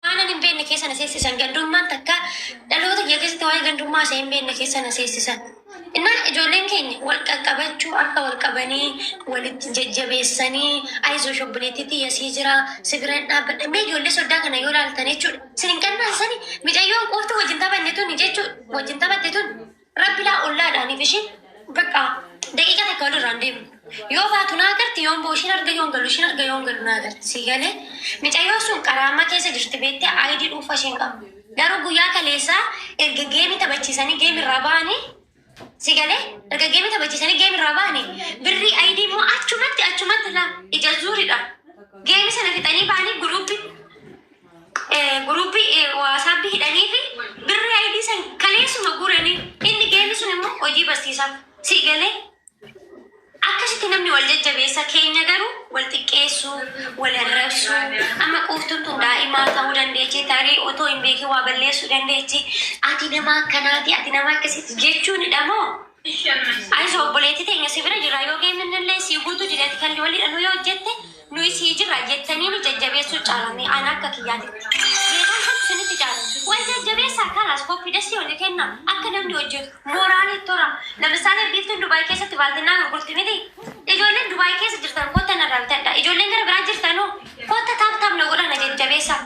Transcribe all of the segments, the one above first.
Waanan hin beekne keessa na seessisan. Gandummaan takka dhaloota kiyya keessatti waa'ee gandummaa ishee hin beekne keessa na seessisan. Innaa ijoolleen keenya wal qaqqabachuu akka wal qabanii walitti jajjabeessanii ayizoo shobbileettii tiyya sii jira si bira hin dhaabbadha. Mee ijoollee soddaa kana yoo laaltan jechuudha. Sin hin qannaasisani micayyoo quuftuu wajjin taphanne tuni jechuudha. Wajjin taphatte tuni. Rabbi laa ollaa dha anif ishin bakka daqiiqa takka wal irraa hin deemnu yoo faatu naa garti yoon boo ishin arga yoon galu ishin arga yoon galu naa garti sii galee micayyoon sun qaraamma keessa jirti beettee ayidii dhuunfa ishee hin qabdu garuu guyyaa kaleessaa erga geemii taphachiisanii geemii irraa ba'anii sii galee erga geemii taphachiisanii geemii irraa ba'anii birrii ayidii immoo achumatti achumatti laa ija zuuridha geemii sana fixanii ba'anii guruuppii Group WhatsApp hidhanii fi birri ID san kaleessuma guuranii inni geemi sun immoo hojii barsiisaaf si galee akkasitti namni wal jajjabeessa keenya garuu wal xiqqeessuu wal arrabsuu amma quuftuun tun daa'imaa ta'uu dandeechi tarii otoo hin beekin waa balleessuu dandeechi ati nama akkanaati ati nama akkasitti jechuunidha moo Anis obboleettii teenya si bira jirra yoo geemmin illee sii guutuu dideeti kan walii dhanuu yoo hojjette nuyi sii jirra jettanii nu jajjabeessuu caalame ana akka kiyyaatitti. Beekumsa isinitti caala. Wal jajjabeessaa kalaas koppidasii oli kenna akka namni hojjetu mooraalii tora. Lamisaale biiftuun Dubai keessatti baaltinnaa gurgurti miti? Ijoolleen Dubai keessa jirtan kotta narraa bitadhaa. Ijoolleen gara biraa jirtanoo kotta tap tap na godhaa na jajjabeessaa.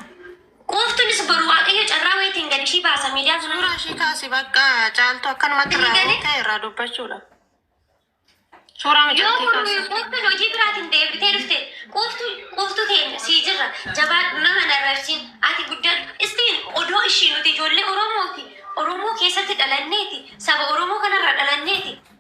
Quuftunis boru waaqayyo carraa wayitiin gad ishii baasa miidiyaa kana. Suuraa ishii kaasi bakka caaltu akkanumatti irraa Eegale. buutee irraa dubbachuudha. Suuraa Yoo mucattii kun kaasi. quuftuun hojii biraatiin deebitee dhufte quuftuu quuftuu teenya sii jirra jabaadhu nama narrarsiin ati guddadhu istiin odoo ishii nuti ijoollee Oromooti Oromoo keessatti dhalanneeti saba Oromoo kanarra dhalanneeti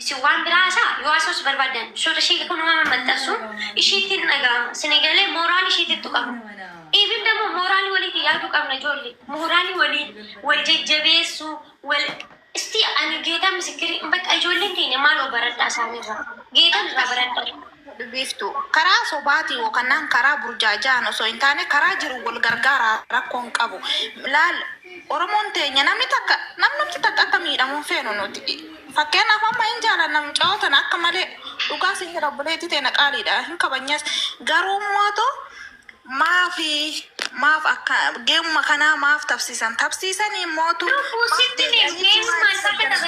Isin waan biraa haasa'a yoo haasa'us barbaaddan suurri ishee kunuma mammaxxansuun ishiitti hin dhaga'ama. Sini galee mooraal ishiitti tuqama. Even immoo mooraalii waliitiin yaaduu qabna ijoollee. Mooraalii waliin wal jajjabeessuu wal istii ani geetaa misikkirii bakka ijoolleen keenya maaloo baradhaa isaaniirraa. Geetan irraa baradhaa. Biiftu, Karaa sobaatiin yookannaan karaa burjaaja'aan osoo hin taane karaa jiruun wal gargaaraa rakkoo hin qabu. Laal Oromoon teenya namni takka namnumti takka akka miidhamu hin feenu nuti. Fakkeennaaf amma hin jaalanna mucayoo tana akka malee dhugaa siin jedha obboleettii teena qaaliidha hin kabajnas garuu mootu maafi maaf akka geemuma kanaa maaf tabsiisan tabsiisanii mootu maaf deebi'anii jimaa dhisan jara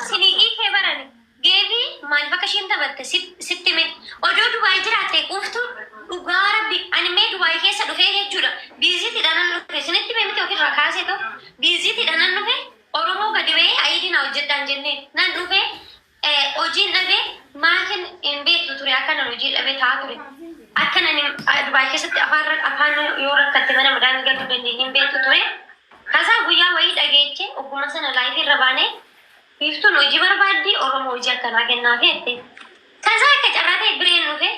sun hin jaalanna. Game maalif akka isheen taphatte sitti hime odoo dubai jiraatte quuftu dhugaa rabbi ani mee dubai keessa dhufee jechuudha visit dha nan dhufe isinitti hime miti ofirraa kaasee too visit dha nan dhufe oromoo gadi bahee ayiidii naa hojjedhaa hin jennee nan dhufe hojiin dhabe maatin hin beektu ture akkanan hojii dhabe taa ture akkan ani dubai keessatti afaan afaan yoo rakkatte mana madaamii galuu dandeenye hin beektu ture kasaa guyyaa wayii dhageeche ogguma sana laayifii irra baanee Biiftuun hojii barbaaddi, Oromoo hojii akkanaa kennaafi jette. Tasaa akka carraa ta'e Bireen dhufe.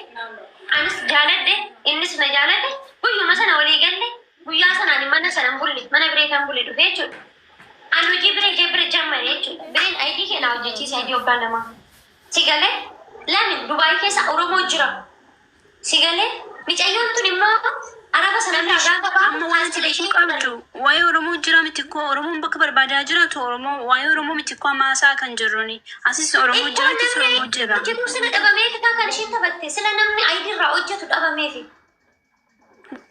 Anis jaaladhe, innis na jaalate. Guyyuma sana walii galle. Guyyaa sana ani mana sana hin bulle. Mana Biree kan bule dhufe jechuudha. Ani hojii Biree ishee bira jammare jechuudha. Bireen ID kee naa hojjechiisi, ID waggaa lamaa. Si galee? Lami, Dubaayii keessa Oromoo jira. Si galee micayyoon tun immoo araba sana irraa Namish gaafa baatu amma wanti beekuu kaasteleeshii qabdu qabdu. waa'ee Oromoo jira mitikkoo Oromoon bakka barbaadaa jiraatu Oromoo waa'ee Oromoo mitikkoo amma haasa'aa kan jirruni asis Oromoo Ilmoo jira atis namni Oromoo jira. hojjetuu sila dhabamee fitaa kan ishiin taphatte sila namni ayidii irraa hojjetu dhabameefi.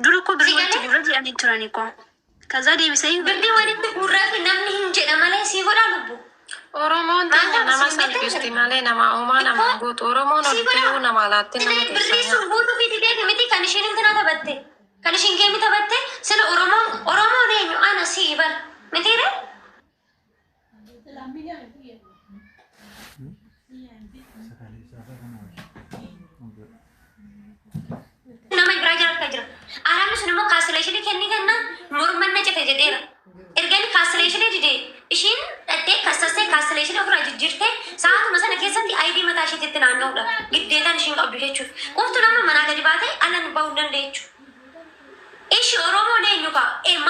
Dura koo birrii Si walitti galee? guurra jedhanii turani koo. Kazaa deebisee hin Dubbii walitti guurraafi namni hin jedha malee sii godhaa lubbu. Oromoon Maal teenya nama taasisuu hin salphisti beektan? malee nama uumaa nama hin guutu. Oromoon Sii oltee godhaa. nama alaatte nama Sila birrii keessaa sun guutuu fi dideeti miti kan ishiin intina taphatte. Kan ishiin geemi taphatte sila Oromoon Oromoon eenyu ana sii bar mitiire. nama irraa jiraachaa jira. Araabni sun immoo kaastileeshinii kennii kenna morma na cite jedheera. Erga inni kaastileeshinii dide ishiin dhattee kassassee kaastileeshinii ofirraa jijjiirtee sa'aatuma sana keessatti ayidii mataa ishiitti itti naanna'uudha. Giddeetaan ishiin qabdu jechuudha. Qoftu nama manaa gadi baatee ala nu bahuu hin dandeechu. Ishi Oromoon eenyu ka'a? Ee, ma-